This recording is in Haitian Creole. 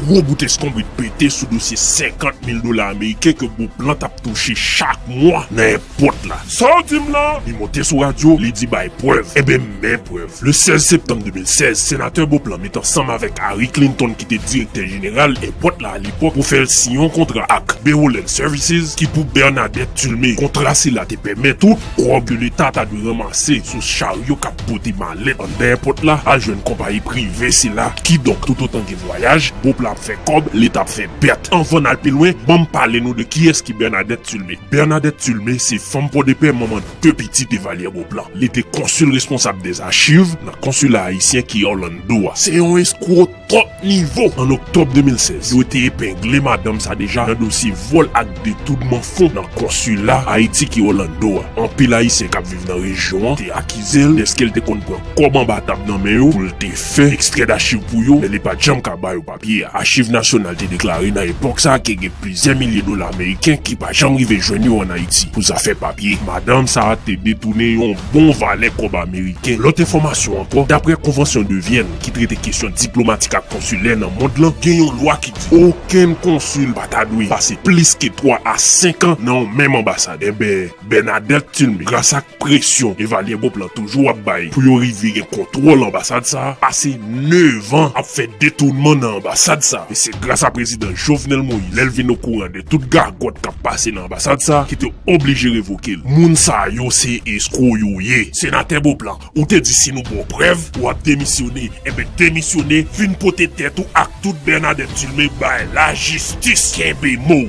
Gwo bout eskonbrit pete sou dosye 50 mil dola ameriken ke Beauplan tap touche chak mwa nan èpòt la. Sa w di m la? Li monte sou radyo, li di bay prèv. Enben m men prèv. Le 16 septanm 2016, Senatè Beauplan met ansanm avèk Harry Clinton ki te direktè jeneral èpòt la alepòk pou fè l siyen yon kontra ak Beroland Services ki pou Bernadette Tulmé. Kontra sila te pèmèt tout kòb ke leta ta dwe ranmase sou charyo kap pote malè. Le ann dèyè pòt la, al jwenn konpayi prive sila, kidonk toutotan gen vwayaj, Bob la ap fè kòb, leta ap fè pèt. Anvan n al pi lwen, ban m pale nou de kiyès ki Bènadèt Tilme. Bènadèt Tilme se fanm Pòdepè, manman de pitit Evalyè Boplan. Li te konsil responsab dèzachiv nan konsila ayisyen ki Òlando a. Se yon eskwo! Kòt Nivo, an oktòb 2016, yo te epengle madanm sa deja nan dosye vòl ak detounman fon nan konsila Ayiti ki Orlando a. Anpil Ayisyen k ap viv nan rejyon an te akize l dèske l te konn pran kòb anba tab nan men yo pou l te fè ekstrè dachiv pou yo, men li pa t janm ka ba yo papye a. Achiv Nasyonal te deklare nan epòk sa ke gen plizyè milye dola meriken ki pa janm rive jwenn yo ann Ayiti pou zafè papye. Madanm sa te detounen yon bon valè kòb ameriken. Lòt enfòmasyon ankò, daprè Konvansyon de Vyèn, ki trete kesyon diplomatik ak konsilè nan mond lan, gen yon lwa ki di okenn konsil pa ta dwe pase plis ke 3 a 5 an nan yon menm anbasad. Enben, Bernadette Thilmé, gras ak presyon Evalye Bob lan toujou ap bay pou yo rive gen kontwòl anbasad sa a, pase 9 an ap fè detounman nan anbasad sa a. E se gras a prezidan Jovenel Moïse, lè l vin okouran de tout gagòt k ap pase nan anbasad sa a, ki te oblije revoke l. Moun sa yo se eskwo yo ye. Senatè Beauplan. Ou te di si nou baw prèv ou ap demisyone enben demisyone vin pote tèt ou ak tout Bernadette Dulmé bay lajistis kenbe mow.